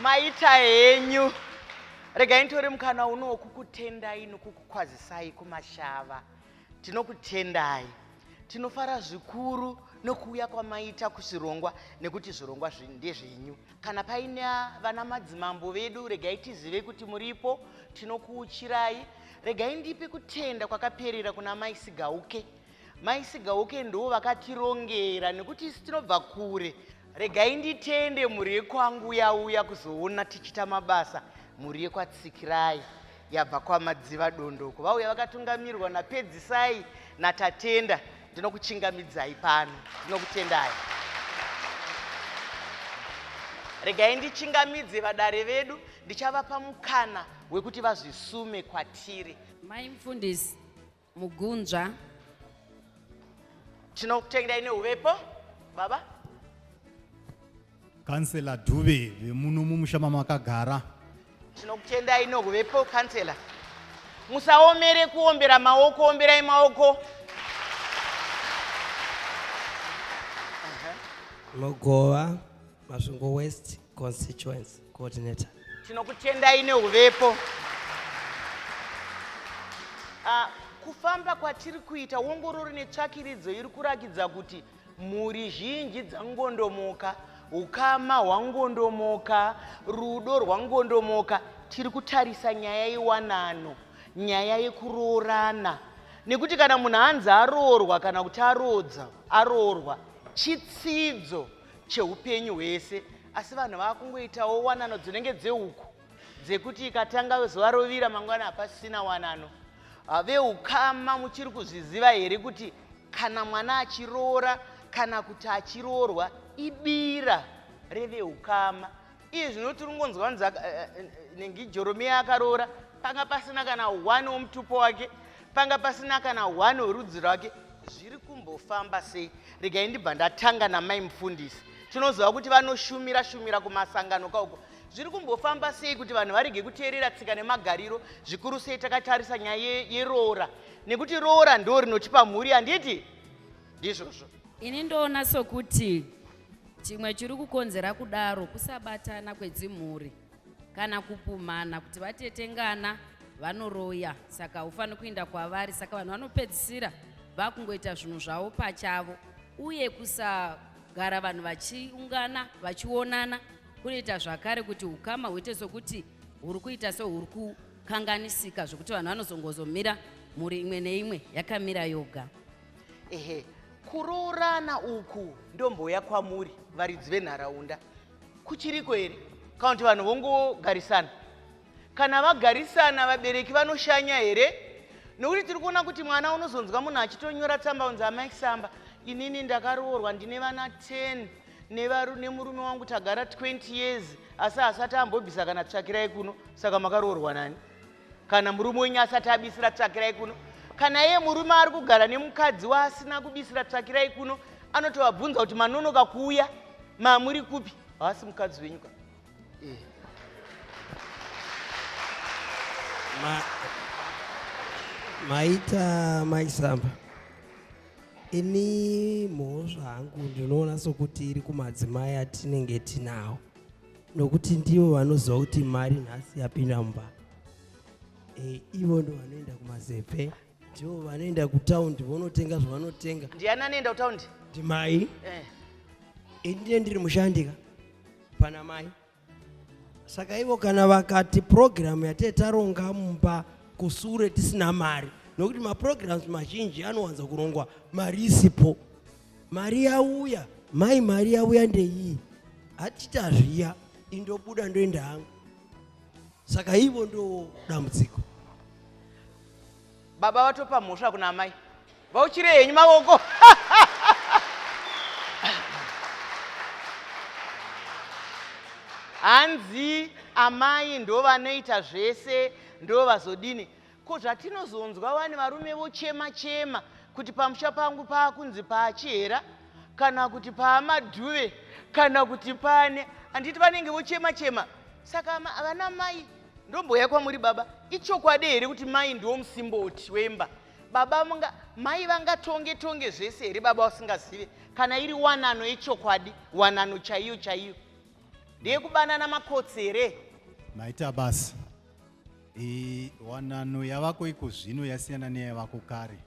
maita henyu regai nditori mukana uno wokukutendai nokukukwazisai kumashava Tinokutendai. Tinofara zvikuru nokuuya kwamaita kuzvirongwa nekuti zvirongwa ndezvenyu. Kana paine vana madzimambo vedu regai tizive kuti muripo, tinokuuchirai. Regai ndipe kutenda kwakaperera kuna Mai Sigauke. Mai Sigauke ndo vakatirongera nekuti isi tinobva kure. Regai nditende mhuri yekwangu yauya kuzoona tichita mabasa mhuri yekwatsikirai. yabva kwamadziva dondo uko vauya vakatungamirwa napedzisai natatenda ndinokuchingamidzai pano ndinokutendai regai ndichingamidze vadare vedu ndichavapa mukana wekuti vazvisume kwatiri mai mufundisi mugunzva tinokutendai neuvepo baba kansela dube vemuno mumusha mamakagara tinokutendai neuvepo kansela musaomere kuombera maoko omberai maoko Mogova. Masvingo West Constituency Coordinator. Tinokutendai neuvepo. Uh, kufamba kwatiri kuita wongororo netsvakiridzo iri kurakidza kuti mhuri zhinji dzangondomoka ukama hwangondomoka rudo rwangondomoka tiri kutarisa nyaya yewanano nyaya yekuroorana nekuti kana munhu anzi aroorwa kana kuti aroodza aroorwa chitsidzo cheupenyu hwese asi vanhu vakungoitawo wanano dzinenge dzehuku dzekuti ikatanga zuva rovira mangwana hapasisina wanano ah, veukama muchiri kuzviziva here kuti kana mwana achiroora kana kuti achiroorwa ibira reveukama iye zvino tiri kungonzwa nzi eh, eh, eh, nengi joromiya akaroora panga pasina kana one womutupo wake panga pasina kana one werudzi rwake zviri kumbofamba sei regai ndibva ndatanga namai mufundisi tinoziva kuti vanoshumira shumira kumasangano kauko zviri kumbofamba sei kuti vanhu varege kuteerera tsika nemagariro zvikuru sei takatarisa nyaya yeroora nekuti roora ndo rinotipa mhuri handiti ndizvozvo ini ndoona sokuti Chimwe chiri kukonzera kudaro kusabatana kwedzimhuri kana kupumhana kuti vatetengana vanoroya saka haufaniri kuinda kwavari saka vanhu vanopedzisira vakungoita zvinhu zvavo pachavo uye kusagara vanhu vachiungana vachionana kunoita zvakare kuti ukama huite sokuti huri kuita sehuri kukanganisika zvekuti vanhu vanozongozomira mhuri imwe neimwe yakamira yoga ehe kuroorana uku ndomboya kwamuri varidzi venharaunda kuchiriko here kana kuti vanhu vongogarisana kana vagarisana vabereki vanoshanya here nokuti tiri kuona kuti mwana unozonzwa munhu achitonyora tsamba unzi amai samba inini ndakaroorwa ndine vana 10 nemurume wangu tagara 20 years asi hasati ambobvisa kana tsvakirai kuno saka makaroorwa nani kana murume wenyu asati abisira tsvakirai kuno kana iye murume ari kugara nemukadzi waasina kubisira tsvakirai kuno anotovabvunza kuti manonoka kuuya mamuri kupi haasi mukadzi wenyu ka eh. maita maisamba ini mhosva hangu ndinoona sokuti iri kumadzimai atinenge tinawo nokuti ndivo vanoziva kuti mari nhasi yapinda mumba e, ivo ndo vanoenda kumazepe ndivo vanoenda kutaundi vonotenga zvavanotenga ndiani anoenda kutaundi ndimai eh. ini ndine ndiri mushandika pana mai saka ivo kana vakati purogiramu yatee taronga mumba kusure tisina mari nokuti mapurogiramu mazhinji anowanza kurongwa mari isipo mari yauya mai mari yauya ndeiyi hatita zviya indobuda ndoenda hangu saka ivo ndo dambudziko baba vatopa mhosva kuna amai vauchire henyu mavoko hanzi amai ndo vanoita zvese ndo vazodini Ko zvatinozonzwa wani varume vochema chema kuti pamusha pangu paakunzi paachihera kana kuti paamadhuve kana kuti pane handiti vanenge vochema chema saka vana mai ndomboya kwamuri baba ichokwadi here kuti mai ndiwo musimboti wemba baba munga mai vangatonge tonge zvese here baba vasingazive kana iri wanano yechokwadi wanano chaiyo chaiyo ndeyekubanana makotsi here maita basa wanano yavako iko zvino yasiyana neyavako kare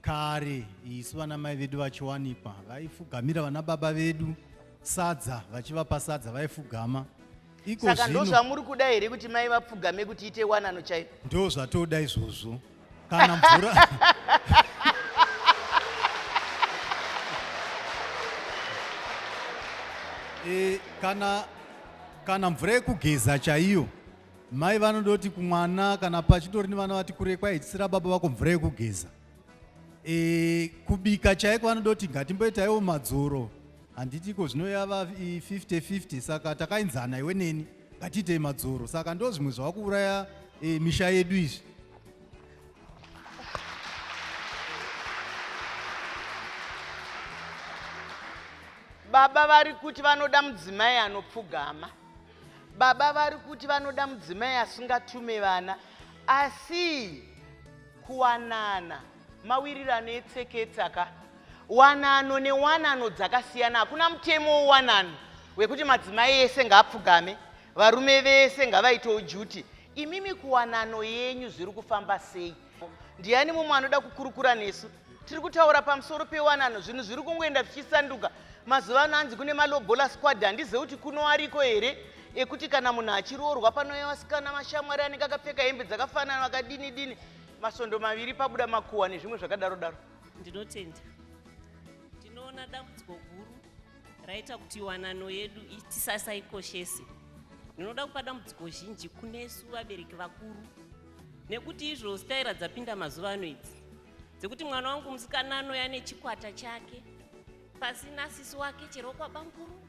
kare isu vana mai vedu vachiwanikwa vaifugamira vana baba vedu sadza vachivapa sadza vaifugama saka ndozvamuri kuda here kuti mai vapfugame kuti ite wanano chaiyo ndo zvatoda izvozvo kana mvura e, kana kana mvura yekugeza chaiyo mai vanoda kuti kumwana kana pachitori nevana vati kure kwai tisira baba vako mvura yekugeza e, kubika chaiko vanoda kuti ngatimboitaiwo madzoro handitiko zvinoyava 50 50 saka takainzana iwe neni Ngatiitei madzoro saka ndo zvimwe zvavakuuraya e, misha yedu izvi. Baba vari kuti vanoda mudzimai anopfugama. Baba vari kuti vanoda mudzimai asingatume vana asi kuwanana mawirirano etseketsaka Wanano newanano dzakasiyana. Hakuna mutemo wewanano wekuti madzimai ese ngaapfugame, varume vese ngavaitewo juti. Imimi kuwanano yenyu zviri kufamba sei? Ndiani mumwe anoda kukurukura nesu? Tiri kutaura pamusoro pewanano, zvinhu zviri kungoenda zvichisanduka. Mazuva ano hanzi kune malobola squad, handizive kuti kuno ariko here ekuti kana munhu achiroorwa panouya vasikana mashamwari anenge akapfeka hembe dzakafanana vakadini dini, masvondo maviri pabuda makuhwa nezvimwe zvakadaro daro. Ndinotenda. Ndinoona dambudziko guru raita kuti wanano yedu tisasaikoshese. Ndinoda kupa dambudziko zhinji kunesu vabereki vakuru nekuti izvo staira dzapinda mazuva ano idzi dzekuti mwana wangu musikana anouya nechikwata chake pasina sisi wake chero kwabanguru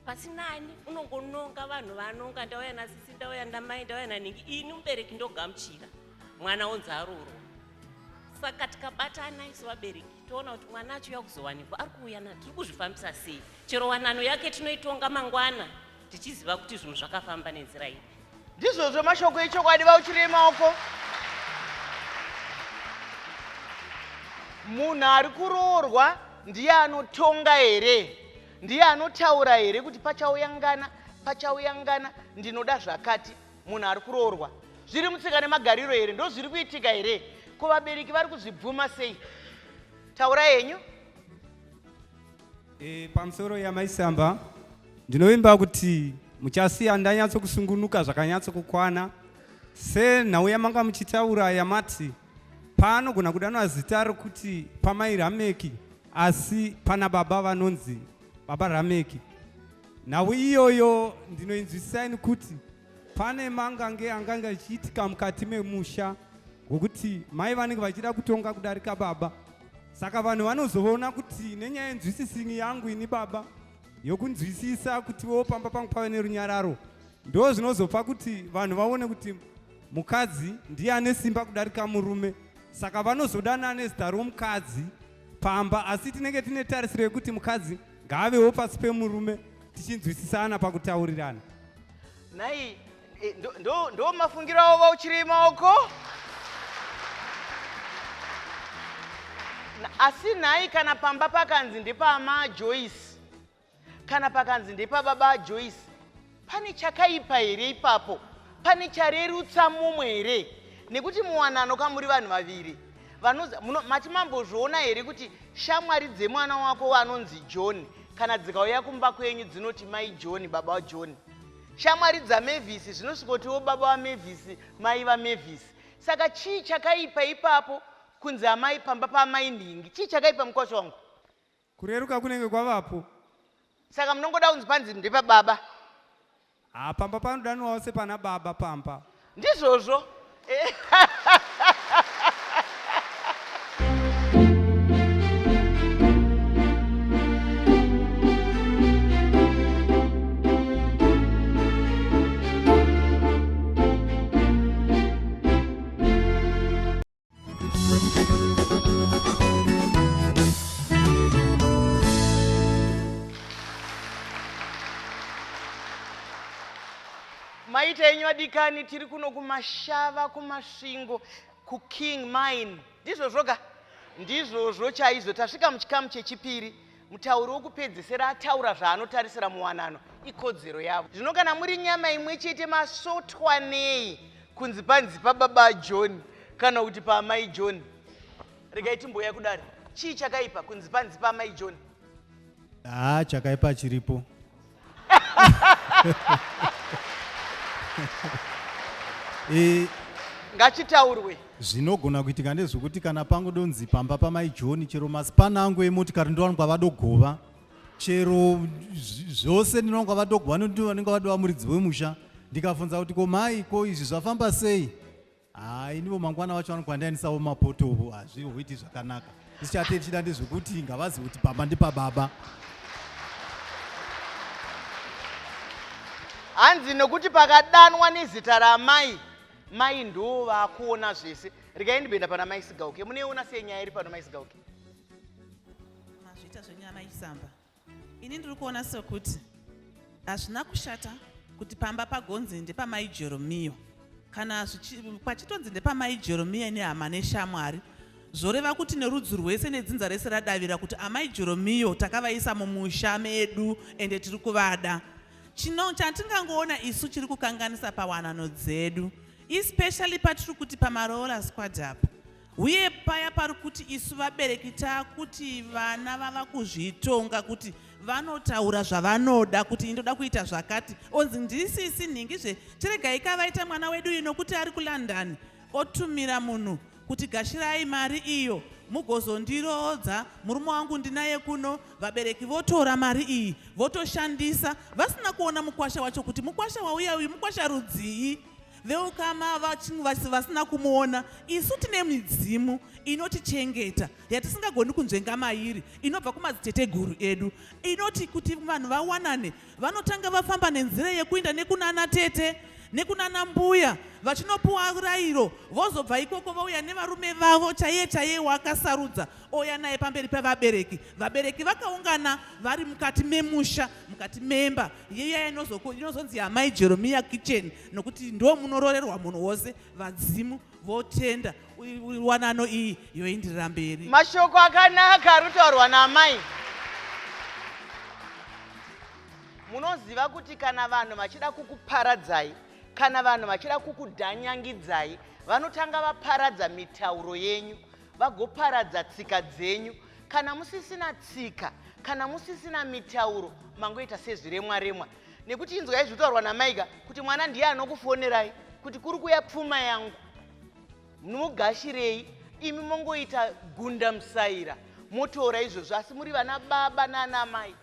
pasina ani unongononga vanhu vanonga ndauya nasisi ndauya ndamai ndauya nanhingi ini mubereki ndogamuchira mwana onzi aroro saka tikabatana isu vabereki toona kuti mwana achiuya kuzowanikwa ari kuuya na tiri kuzvifambisa sei chero wanano yake tinoitonga mangwana tichiziva kuti zvinhu zvakafamba nenzira ipi ndizvozvo mashoko echokwadi vauchirei maoko munhu ari kuroorwa ndiye anotonga here ndiye anotaura here kuti pachauya ngana pachauya ngana ndinoda zvakati munhu ari kuroorwa zviri mutsika nemagariro here ndozviri kuitika here ko vabereki vari kuzvibvuma sei taura henyu e, pamusoro yamaisamba ndinovimba kuti muchasiya ndanyatso kusungunuka zvakanyatso kukwana senhau yamanga muchitaura yamati paanogona kudanwa zita rokuti pamai rameki asi pana baba vanonzi baba rameki Nhau iyoyo ndinoinzwisisa nekuti pane mangange angange achiitika mukati memusha ngokuti mai vanenge vachida kutonga kudarika baba saka vanhu vanozoona kuti nenyaya yenzwisisini yangu ini baba yokunzwisisa kuti wo pamba pangu pave nerunyararo ndo zvinozopa kuti vanhu vaone kuti mukadzi ndiye ane simba kudarika murume saka vanozodana nezita romukadzi pamba asi tinenge tine tarisiro yekuti mukadzi ngaavewo pasi pemurume tichinzwisisana pakutaurirana nhai eh, ndo- ndo- ndo mafungiro avo vauchiri maoko Na- asi nhai kana pamba pakanzi ndepama joyce kana pakanzi ndepababa joyce Pane chakaipa here ipapo? Pane charerutsa mumwe here? Nekuti muwanano kamuri vanhu vaviri mati mambozviona here kuti shamwari dzemwana wako vanonzi john kana dzikauya kumba kwenyu dzinoti mai john baba wajohn shamwari dzamevhisi zvinosvikotiwo baba vamevhisi mai vamevhisi saka chii chakaipa ipapo kunzi amai pamba paamai nhingi chii chakaipa mukwasha wangu Kureruka kunenge kwavapo. Saka munongoda kunzi panzi ndepa baba. Ah, pamba panodanwawo sepana baba pamba. Ndizvozvo. maita enyu vadikani tiri kuno kumashava kumasvingo kuking mine ndizvozvoka ndizvozvo chaizvo tasvika muchikamu chechipiri mutauri wokupedzesera ataura zvaanotarisira muwanano ikodzero yavo zvino kana muri nyama imwe chete masotwa nei kunzi panzi pababa john kana kuti paamai john regai timboya kudari chii chakaipa kunzi panzi paamai john haa chakaipa chiripo e, ngachitaurwe zvinogona kuitika ndezvekuti kana pangu donzi pamba pamai johni chero masipana angu emotikari ndowanikwa vadogova chero zvose ndinowanikwa vadogova nondivanenge vadova muridzi wemusha ndikavhunza kuti ko mai ko izvi zvafamba sei haa inivo mangwana wacho vanokwandainisawo mapotovo hazvihoiti zvakanaka tichate tichida ndezvekuti ngavazi kuti pamba ndipababa hanzi nokuti pakadanwa nezita ramai mai ndoo vakuona zvese regai ndibenda pana mai sigauke muneiona sei nyaya iri pano mai sigauke mazvita zvenyana isamba ini ndiri kuona sekuti hazvina kushata kuti pamba pagonzi ndepamai jeromiyo kana pachitonzi ndepamai jeromiya nehama neshamwari zvoreva kuti nerudzi rwese nedzinza rese radavira kuti amai jeromiyo takavaisa mumusha medu ende tiri kuvada chino chatingangoona isu chiri kukanganisa pawanano dzedu especially patiri kuti pamaroora squad apa Uye paya pari kuti isu vabereki taakuti vana vava kuzvitonga kuti vanotaura zvavanoda kuti indoda kuita zvakati onzi ndisisi nhingi zve tiregai ka vaita mwana wedu uyu nokuti ari kulondon otumira munhu kuti gashirai mari iyo mugozondiroodza murume wangu ndinaye kuno vabereki votora mari iyi votoshandisa vasina kuona mukwasha wacho kuti mukwasha wauya uyu mukwasha rudzii veukama vasina kumuona isu tine midzimu inotichengeta yatisingagoni kunzvenga mairi inobva kumadziteteguru edu inoti kuti vanhu vawanane vanotanga vafamba nenzira yekuinda nekunana tete nekunana mbuya vachinopuwa rayiro vozobva ikoko vauya nevarume vavo chaiye chaiye waakasarudza ouya naye pamberi pevabereki vabereki vakaungana vari mukati memusha mukati memba yeiya inozonzi yamai jeromiya kitchen nokuti ndo munoroorerwa munhu wose vadzimu votenda wanano iyi yoindirira mberi mashoko akanaka ari kutaurwa naamai munoziva kuti kana vanhu vachida kukuparadzai kana vanhu vachida kukudhanyangidzai vanotanga vaparadza mitauro yenyu vagoparadza tsika dzenyu kana musisina tsika kana musisina mitauro mangoita sezviremwaremwa nekuti inzwai zvitaurwa namaiga kuti mwana ndiye anokufonerai kuti kuri kuya pfuma yangu mugashirei imi mongoita gunda musaira motora izvozvo asi muri vana baba naana mai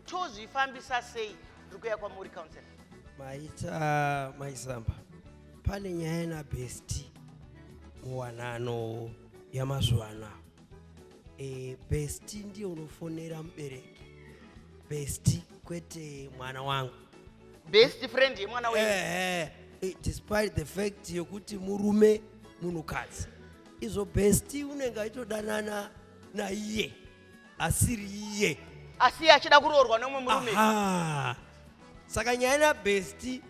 tozvifambisa sei ndiri kuya kwamuri council maita maizamba pane nyaya nabesti muwanano yamazuva anaa e, besti ndiye unofonera mubereki besti kwete mwana wangu best friend yemwana wenyu Eh, eh, despite the fact yekuti murume munhukadzi izvo besti unenge aitodanana naiye asiri iye asi iye achida kuroorwa neumwe murume Aha. saka nyaya nabesti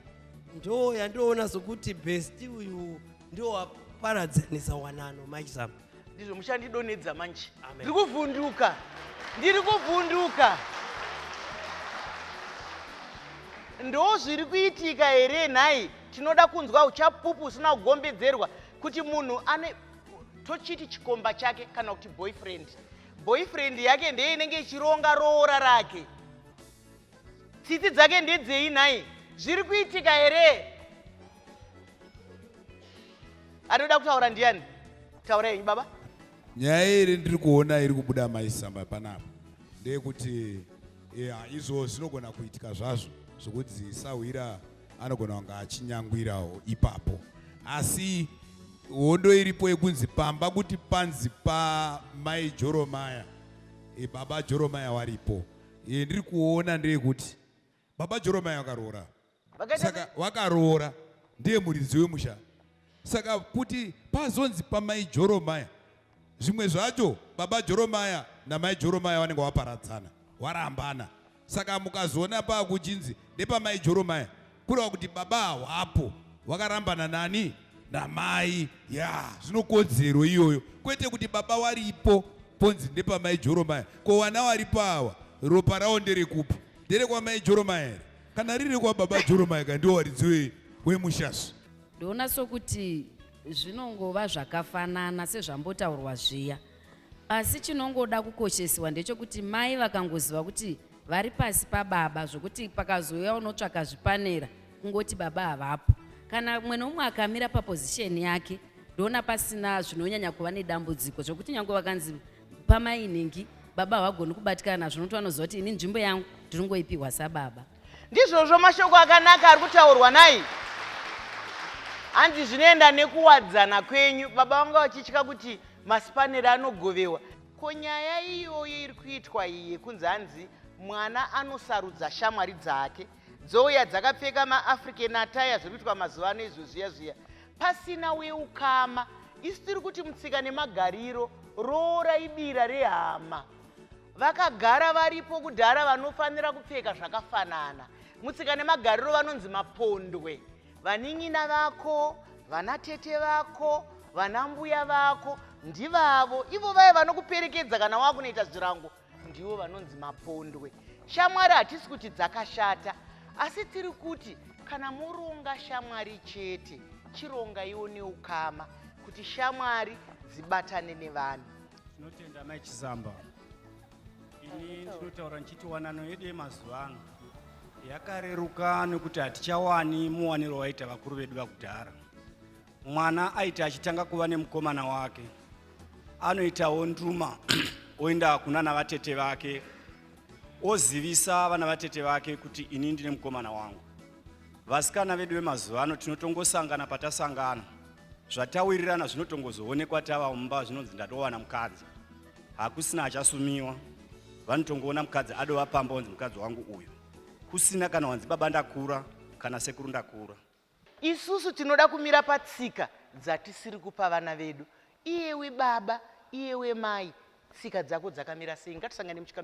ndo yandoona sokuti besti uyu ndowaparadzanisa wanano mike sam ndizvo muchandidonedza manje ndiri kuvhunduka ndiri kuvhunduka ndo zviri kuitika here nhai tinoda kunzwa uchapupu usina kugombedzerwa kuti munhu ane tochiti chikomba chake kana kuti boyfriend boyfriend yake ndeye inenge ichironga roora rake tsitsi dzake ndedzei nhai zviri kuitika here anoda kutaura ndiani taura yenyu baba nyaya iri ndiri kuona iri kubuda maisamba panapa ndeyekuti yeah, izvo zvinogona kuitika zvazvo zvokuti sahwira anogona kunge achinyangwirawo ipapo asi hondo iripo yekunzi pamba kuti panzi pamai joromaya e, baba joromaya waripo Iye ndiri kuona ndeyekuti baba Joromai vakaroora. Saka vakaroora ndiye muridzi wemusha. Saka kuti pazonzi pamai Joromai zvimwe zvacho baba Joromaya namai Joromaya vanenge vaparadzana, varambana. Saka mukazoona pakuchinzi ndepamai Joromaya kureva kuti baba hawapo wakarambana nani namai ya zvinokodzero iyoyo kwete kuti baba waripo ponzi ndepamai joromaya ko wana waripo awa ropa rawo nderekupi nderekwamai joromaya here kana riri kwababa joromaya ka ndiwo waridziwe wemushasvi ndoona sokuti zvinongova zvakafanana sezvambotaurwa zviya asi chinongoda kukoshesiwa ndechokuti mai vakangoziva kuti vari pasi pababa zvokuti pakazouya unotsvaka zvipanera kungoti baba havapo kana umwe noumwe akamira papozisheni yake ndoona pasina zvinonyanya kuva nedambudziko zvokuti nyange vakanzi pamainhingi baba havagoni kubatikana nazvo nokuti vanoziva kuti ini nzvimbo yangu ndinongoipihwa sababa ndizvozvo mashoko akanaka ari kutaurwa nai hanzi zvinoenda nekuwadzana kwenyu baba vanga vachitya kuti masipanera anogovewa Ko nyaya iyoyo iri kuitwa iyi yekunzi hanzi mwana anosarudza shamwari dzake dzouya dzakapfeka maafrican ataya zviri kuitwa mazuva ano izvo zviya zviya pasina weukama isu tiri kuti mutsika nemagariro roora ibira rehama vakagara varipo kudhara vanofanira kupfeka zvakafanana mutsika nemagariro vanonzi mapondwe Vanin'ina vako, vana tete vako, vana mbuya vako ndivavo ivo vaya vanokuperekedza kana wakunoita zvirango ndivo vanonzi mapondwe. Shamwari hatisi kuti dzakashata asi tiri kuti kana moronga shamwari chete chirongaiwo neukama kuti shamwari dzibatane nevanhu. Tinotenda mai Chisamba. ini ndinotaura ndichiti wanano yedu yemazuva ano yakareruka nekuti hatichawani muwaniro waita vakuru vedu vakudhara mwana aiti achitanga kuva nemukomana wake anoitawo nduma oenda kuna navatete vake ozivisa vana vatete vake kuti ini ndine mukomana wangu vasikana vedu vemazuva ano tinotongosangana patasangana zvatawirirana zvinotongozoonekwa tava mumba zvinonzi ndatowana mukadzi hakusina achasumiwa vanotongoona mukadzi adova pamba wanzi mukadzi wangu uyu kusina kana wanzi baba ndakura kana sekuru ndakura isusu tinoda kumira patsika dzatisiri kupa vana vedu iyewe baba iyewe mai tsika dzako dzakamira sei ngatisangane muchika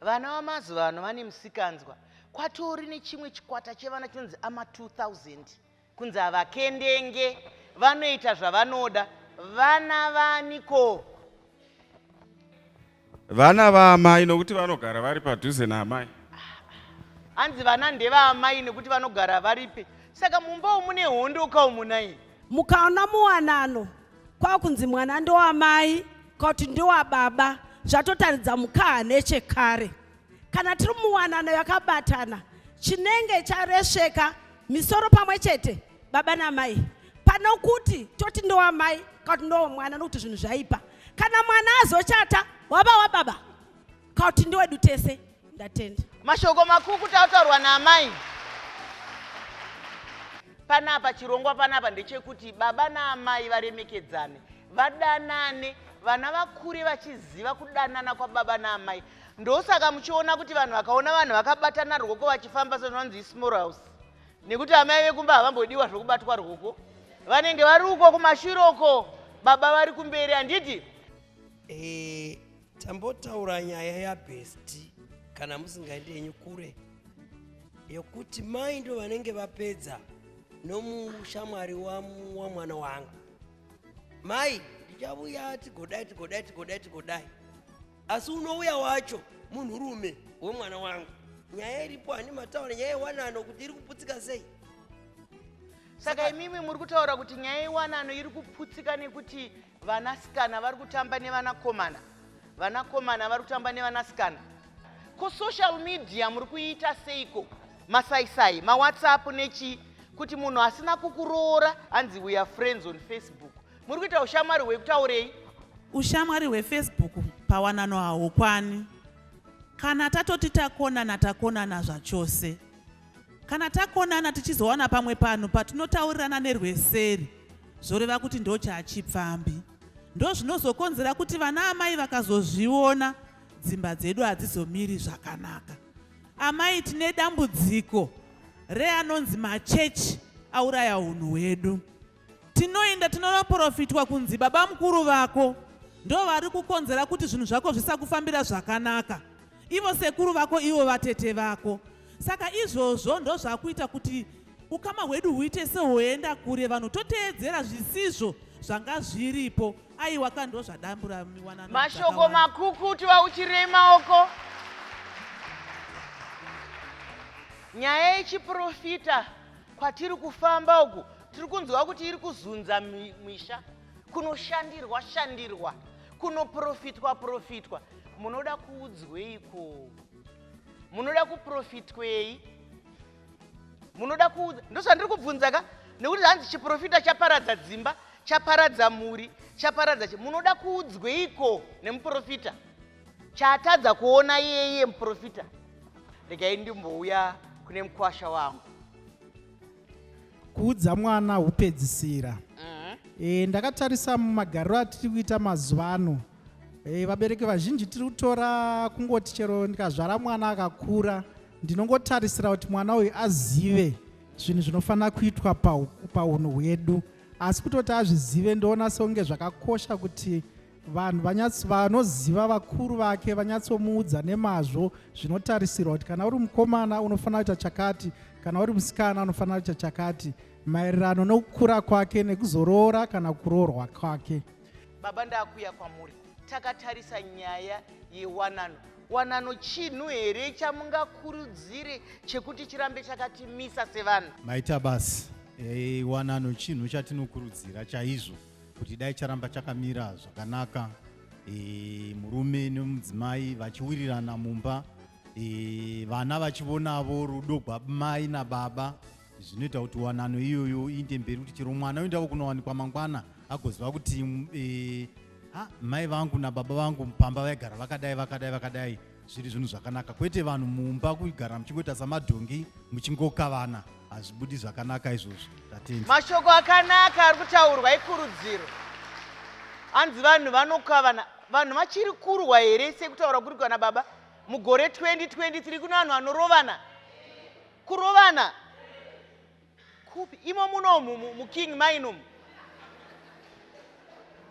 Vana vamazuva ano vane musikanzwa. Kwatori nechimwe chikwata chevana chinonzi ama 2000 kunzi havakendenge vanoita zvavanoda vana vaniko vana vaamai nokuti vanogara vari padhuze naamai hanzi vana ndevaamai nekuti vanogara varipi saka mumba umune hondo kaumunai mukaona muwanano kwakunzi mwana ndowamai kwakuti ndowababa zvatotaridza mukaha nechekare kana tiri muwanano yakabatana chinenge charesveka misoro pamwe chete baba namai pane kuti toti ndowamai kwakuti ndowamwana nokuti zvinhu zvaipa kana mwana azochata waba wababa Kauti ndewedu tese. Ndatenda. Mashoko makuku tautaurwa naamai. Panapa chirongwa panapa ndechekuti baba naamai varemekedzane, vadanane, vana vakure vachiziva kudanana kwababa naamai. Ndosaka muchiona kuti vanhu vakaona vanhu vakabatana rwoko vachifamba sezvinonzi ismall house. Nekuti amai vekumba havambodiwa zvokubatwa rwoko. Vanenge vari uko kumashure uko baba vari kumberi handiti? Eh, Tambotaura nyaya yabhesti kana musingaendi yenyu kure yekuti mai ndo vanenge vapedza nomushamwari wamwana wangu mai ndichavuya tigodai tigodai tigodai tigodai asi unouya wacho munhurume wemwana wangu nyaya iripo handi mataura nyaya yewanano kuti iri kuputsika sei saka imimi muri kutaura kuti nyaya yewanano iri kuputsika nekuti Vanasikana vari kutamba nevanakomana, vanakomana vari kutamba nevanasikana. Ko social media muri kuiita seiko? Masaisai, mawhatsapp nechi kuti munhu asina kukuroora anzi we are friends on Facebook. Muri kuita ushamwari hwekutaurei? Ushamwari hwefacebook pawanano haukwani. Kana tatoti takonana takonana zvachose. Kana takonana tichizowana pamwe panhu patinotaurirana nerweseri zvoreva kuti ndochachipfambi. Ndozvinozokonzera kuti vana amai vakazozviona dzimba dzedu hadzizomiri zvakanaka. Amai tine dambudziko reanonzi machechi auraya hunhu hwedu. Tinoenda tinonoporofitwa kunzi baba mukuru vako ndo vari kukonzera kuti zvinhu zvako zvisakufambira zvakanaka. Ivo sekuru vako ivo vatete vako. Saka izvozvo ndo zvakuita kuti ukama hwedu huite sehoenda kure vanhu toteedzera zvisizvo zvanga zviripo aiwa ka ndo zvadambura miwanano. Mashoko makukutu vauchirei maoko. Nyaya yechiprofita kwatiri kufamba uku tiri kunzwa kuti iri kuzunza misha kunoshandirwa shandirwa kunoprofitwa profitwa munoda kuudzweiko munoda kuprofitwei munoda kuudza ndozvandiri kubvunza ka nekuti hanzi chiprofita chaparadza dzimba chaparadza mhuri chaparadza chi munoda kuudzweiko nemuprofita chaatadza kuona iyeye muprofita regai ndimbouya kune mukwasha wangu kuudza mwana hupedzisira e, ndakatarisa mumagariro atiri kuita mazuva ano e, vabereki vazhinji tiri kutora kungoti chero ndikazvara mwana akakura ndinongotarisira kuti mwana uyu azive zvinhu zvinofanira kuitwa paunhu hwedu asi kutoti azvizive ndoona sekunge zvakakosha kuti vanhu vanyatso vanoziva vakuru vake vanyatsomuudza nemazvo zvinotarisirwa kuti kana uri mukomana unofanira kuita chakati kana uri musikana unofanira kuita chakati maererano nokukura kwake nekuzoroora kana kuroorwa kwake baba ndakuya kwamuri takatarisa nyaya yewanano wanano chinhu here chamungakurudzire chekuti chirambe chakatimisa sevanhu maita basi hey, eh, wanano chinhu chatinokurudzira chaizvo kuti dai charamba chakamira zvakanaka e, murume nemudzimai vachiwirirana mumba e, vana vachivonavo rudo gwamai nababa zvinoita kuti wanano iyoyo iinde mberi kuti chero mwana oendavo kunowanikwa mangwana agoziva kuti e, ha, mai vangu nababa vangu pamba vaigara vakadai vakadai vakadai zviri zvinhu zvakanaka kwete vanhu mumba kugara muchingoita samadhongi muchingokavana hazvibudi zvakanaka izvozvo tatenda mashoko akanaka ari kutaurwa ikurudziro hanzi vanhu vanokavana vanhu vachiri kurwa here sekutaura kuri kwana baba mugore 2023 kune vanhu vanorovana kurovana kupi imo munomu muking mainum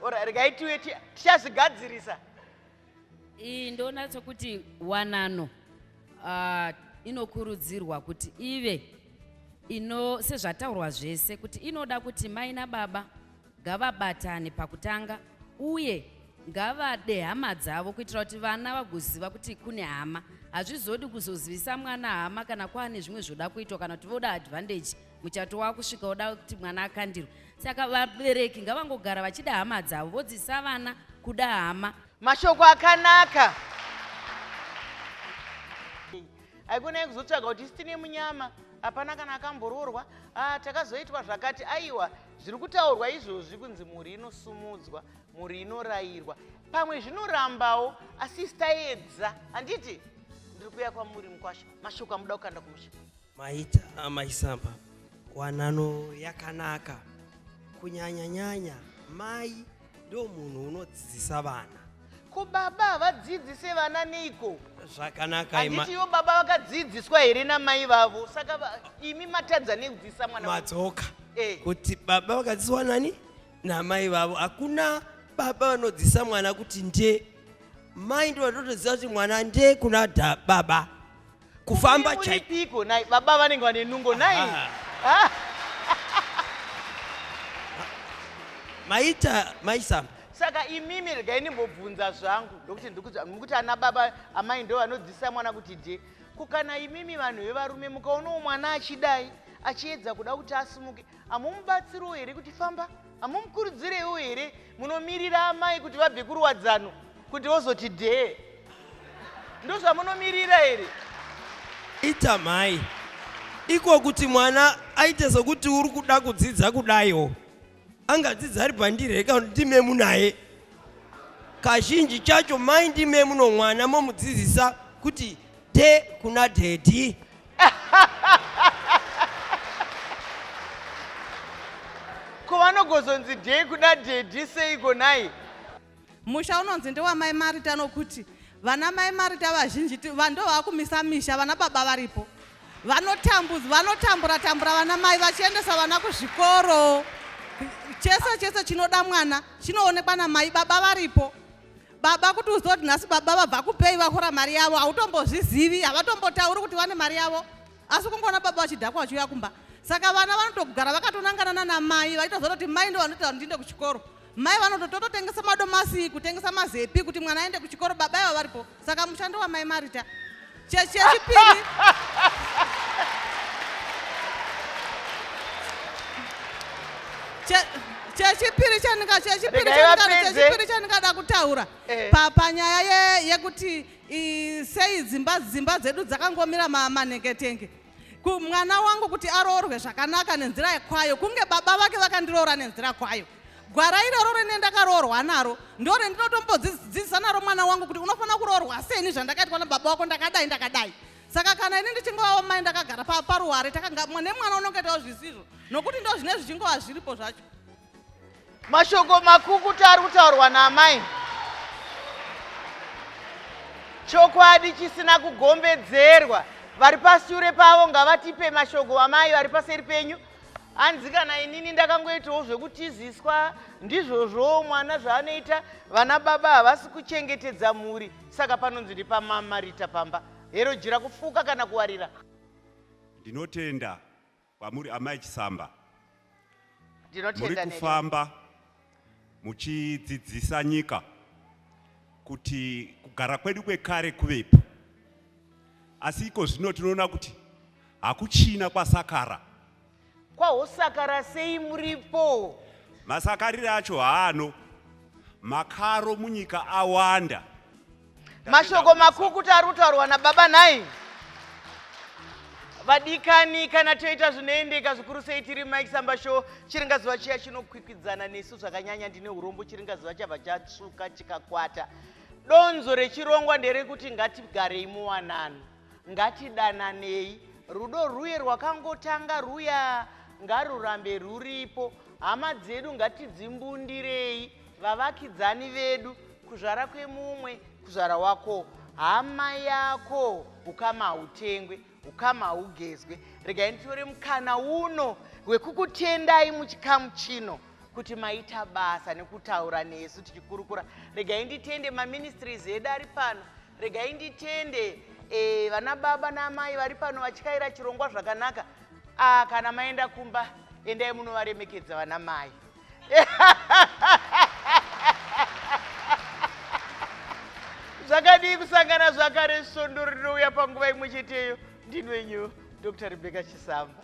or regai tiwe tichazvigadzirisa iyi ndoona sokuti wanano uh, inokurudzirwa kuti ive ino sezvataurwa zvese kuti inoda kuti mai nababa ngavabatane pakutanga uye ngavade hama dzavo kuitira kuti vana vagoziva kuti kune hama hazvizodi kuzozivisa mwana hama kana kwaane zvimwe zvoda kuitwa kana kuti voda advantage muchato wakusvika woda kuti mwana akandirwe saka vabereki ngavangogara vachida hama dzavo vodzisa vana kuda hama mashoko akanaka aikonai kuzotsvaga kuti isi tine munyama hapana kana akamboroorwa ah, takazoitwa zvakati aiwa zviri kutaurwa izvozvi kunzi mhuri inosumudzwa mhuri inorayirwa pamwe zvinorambawo asi isi taedza handiti ndiri kuya kwamuri mukwasha mashoko amuda kukanda kumusha maita amaisamba wanano yakanaka kunyanya nyanya mai ndo munhu unodzidzisa vana ko baba havadzidzise vana neiko zvakanaka handiti ivo baba vakadzidziswa here namai vavo saka imi matadza nekudzidzisa mwana madzoka hey. Eh. kuti baba vakadzidziswa nani namai vavo hakuna baba vanodzidzisa mwana kuti nde mai ndo vatotoziva kuti mwana nde kuna baba kufamba chaiko nai baba vanenge vane nungo nai ah. Ah. maita maisamba saka imimi regai ndimbobvunza zvangu ndokuti ndikuti ana baba amai ndo vanodzidzisa mwana kuti de kukana imimi vanhu vevarume mukaonawo mwana achidai achiedza kuda kuti asimuke hamumubatsiriwo here kuti famba hamumukurudzireiwo here munomirira amai kuti vabve kuruwadzano kuti vozoti dhee ndozvamunomirira here ita mhai iko kuti mwana aite sokuti uri kuda kudzidza kudaiwo angadzidza ari pandireka kuti ndime munaye kazhinji chacho mai ndime muno mwana momudzidzisa kuti te kuna daddy ko vanogozonzi dei kuda daddy seiko nhai musha unonzi ndewamai marita nokuti vana mai marita vazhinji ti- va- ndo vakumisa misha vana baba varipo vanotambudza vanotambura tambura vana mai vachiendesa vana kuzvikoro chese chese chinoda mwana chinoonekwa namai baba varipo baba kuti uzive kuti nhasi baba vabva kupei vahora mari yavo hautombozvizivi havatombotauri kuti vane mari yavo asi kungoona baba vachidhakwa vachiuya kumba saka vana vanotogara vakatonangana nana mai vachitoziva kuti mai ndo vanoita kuti ndiende kuchikoro mai vanotototengesa madomasi kutengesa mazepi kuti mwana aende kuchikoro baba iva varipo saka mushando wamai marita chechipiri chechipiri chandingachechipiri chandingada kutaura eh. panyaya yekuti sei dzimba dzimba dzedu dzakangomira maneketenge kumwana wangu kuti aroorwe zvakanaka nenzira yekwayo kunge baba vake vakandiroora nenzira kwayo gwara iroro rine ndakaroorwa naro ndo rendinotombodzidzisa naro mwana wangu kuti unofanira kuroorwa seni zvandakaitwa nababa wako ndakadai ndakadai saka kana ini ndichingovawo mai ndakagara paruware nemwana unongetawo zvisizvo nokuti ndo zvine zvichingova zviripo zvacho Mashoko makukuta ari kutaurwa naamai. Chokwadi chisina kugombedzerwa. Vari pashure pavo ngavatipe mashoko amai vari paseri penyu. Hanzi kana inini ndakangoitawo zvekutiziswa ndizvozvowo mwana zvaanoita vana baba havasi kuchengetedza mhuri saka panonzi ndipamamarita pamba. Hero jira kufuka kana kuwarira. Ndinotenda Kwamuri amai Chisamba, muri kufamba muchidzidzisa nyika kuti kugara kwedu kwekare kuvepo, asi iko zvino tinoona kuti hakuchina kwasakara. Kwahosakara sei muripo? Masakarire acho haano makaro munyika awanda. mashoko makukuta ari kutaurwa nababa nhai vadikani kana toita zvinoendeka zvikuru sei tiri mike samba show chiringazuva chiya chinokwikwidzana nesu zvakanyanya ndine urombo chiringazuva chabva chatsvuka chikakwata donzo rechirongwa nderekuti ngatigarei muwanano ngatidananei rudo rwuye rwakangotanga rwuya ngarurambe rwuripo hama dzedu ngatidzimbundirei vavakidzani vedu kuzvara kwemumwe kuzvara wako hama yako ukama hautengwe ukama haugezwe regai nditore mukana uno wekukutendai muchikamu chino kuti maita basa nekutaura nesu tichikurukura regai nditende maministries edu ari pano regai nditende e, vana baba naamai vari pano vachikaira chirongwa zvakanaka ah, kana maenda kumba endai munovaremekedza vana mai zvakadii kusangana zvakare svondo rinouya panguva imwe cheteyo ndinwenyu dr rebeka chisamba